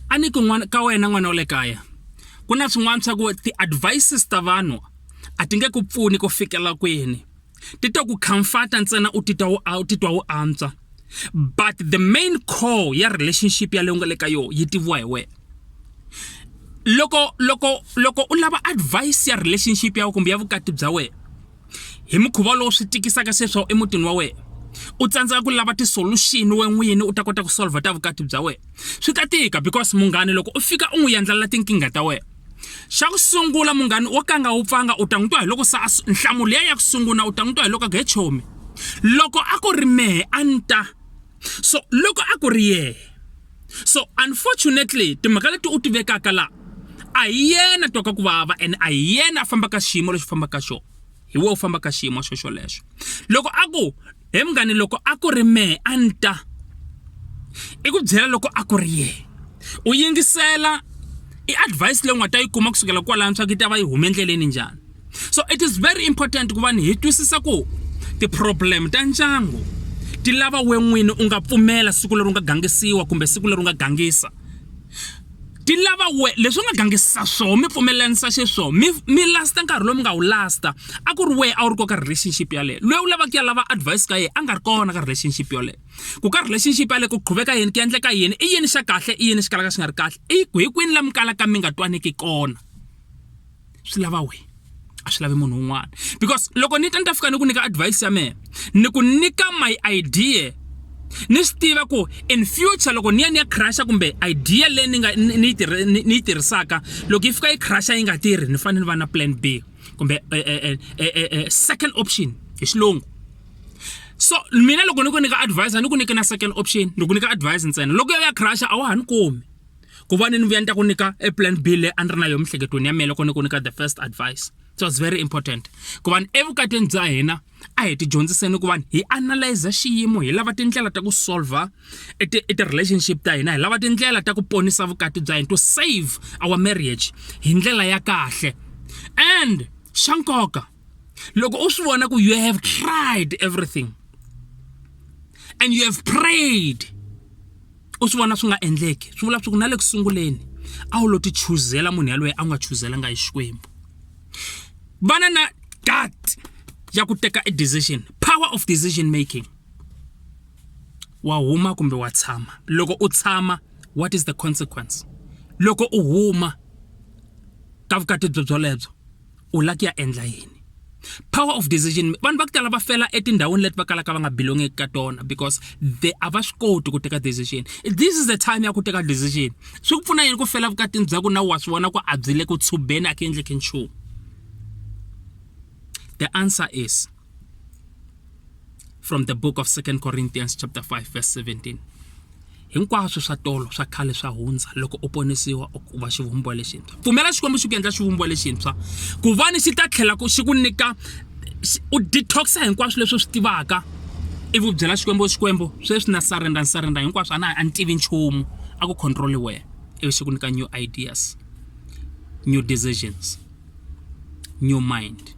a ni ku n'wana ka wena n'wana wa le kaya ku na swin'wana swa ku ti-advices ta vanhu a ti nge ku pfuni ku fikela kwini ti to ku comforta ntsena u titwa u u titwa u antswa but the main core ya relationship yaleyo nga le ka yona yi tiviwa hi wena loko loko loko u lava advice ya relationship ya kumbe ya vukati bya wena hi mukhuva lowu swi tikisaka sweswawu emutini wa wena u tsandzeka ku lava ti-solution we n'wini u ta kota ku solver ta vukati bya wena swi ta tika because munghani loko u fika u n'wi yendlelela tinkingha ta wena xa ku sungula munghani wo ka nga wu pfanga u ta n'wi twa hi loko se nhlamulo ya ya ku sungula u ta n'wi twa hi loko a ku he chomi loko a ku ri mehe a ni ta so loko a ku ri yena so unfortunately timhaka leti u ti vekaka la a hi yena twaka ku vava and a hi yena a fambaka xiyimo lexi fambaka xona hi wo u fambaka xiyimo xo xolexo loko a ku he munghani loko a ku ri mehe a ni ta i ku byela loko a ku ri yena u yingisela i advice leyi u nga ta yi kuma kusukela kwalano swa ku yi ta va yi hume endleleni njhani so it is very important ku va ni hi twisisa ku ti-problem ta ndyangu ti lava we n'wini u nga pfumela siku leri u nga gangisiwa kumbe siku leri u nga gangisa ti lava we leswi u nga gangisa swoho mi pfumelanisa xiswoho mi mi lasta nkarhi lowu mi nga wu lasta a ku ri wehe a wu ri ko ka relationship yaleyo loyi u lavaka ya lava advice ka yena a nga ri kona ka relationship yoleyo ku ka relationship yaleyo ku qhuveka yini ku endleka yini i yini xa kahle i yini xi kalaka xi nga ri kahle i ku hi kwini la mi kalaka mi nga twaniki kona swi lava wena a swi lavi munhu un'wana because loko ni ta ni ta fika ni ku nyika advice ya mehe ni ku nyika my idea ni swi tiva ku in future loko ni ya ni ya crasha kumbe idea leyi ni nga ni yi tirhisaka loko yi fika yi crasha yi nga tirhi ni fanele ni va na plan b kumbe eh, eh, eh, second option hi xilungu so mina loko ni ku nyika advice a ni ku nyike na second option ni ku nyika advice ntsena loko yo ya crasha a wa ha ni kumi ku va ni ni vuya ni ta ku nyika e plan b leyi a ni ri na yo miehleketweni ya mina loko ni ku nyika the first advice it was very important ku va ni evukatini bya hina a hi ti dyondziseni ku va hi analyze xiyimo hi lava tindlela ta ku solver e ti e relationship ta hina hi lava tindlela ta ku ponisa vukati bya hina to save our marriage hi ndlela ya kahle and xa nkoka loko u swi vona ku you have tried everything and you have prayed u swi vona swi nga endleki swi vula leswaku na le ku sunguleni a wu lo ti chuzela munhu yaloye a nga chuzelanga hi xikwembu vana na dat ya ku teka e decision power of decision making wa huma kumbe wa tshama loko u tshama what is the consequence loko u huma ka vukati byo byolebyo u la ku ya endla yini power of decision vanhu va ku tala va fela etindhawini leti va kalaka va nga belongeki ka tona because the a va swi koti ku teka decision this is the time ya ku teka decision swi ku pfuna yini ku fela vukatini bya ku na wa swi vona ku a byi le ku tshubeni a ku endleki nchumu the answer is from the book of 2 corinthians chapter 5 verse 17 hinkwaswo swa tolo swa khale swa hundza loko u ponisiwa u va xivumbiwa lexintshwa pfumela xikwembu xi ku endla xivumbiwa lexintshwa ku vani xi ta tlhela xi ku nyika u detoxa hinkwaswo leswi u swi tivaka ivi u byela xikwembu xikwembu sweswi na surrender ni surrender hinkwaswo a na a ni tivi nchumu a ku control wena ivi xi ku nyika new ideas new decisions new mind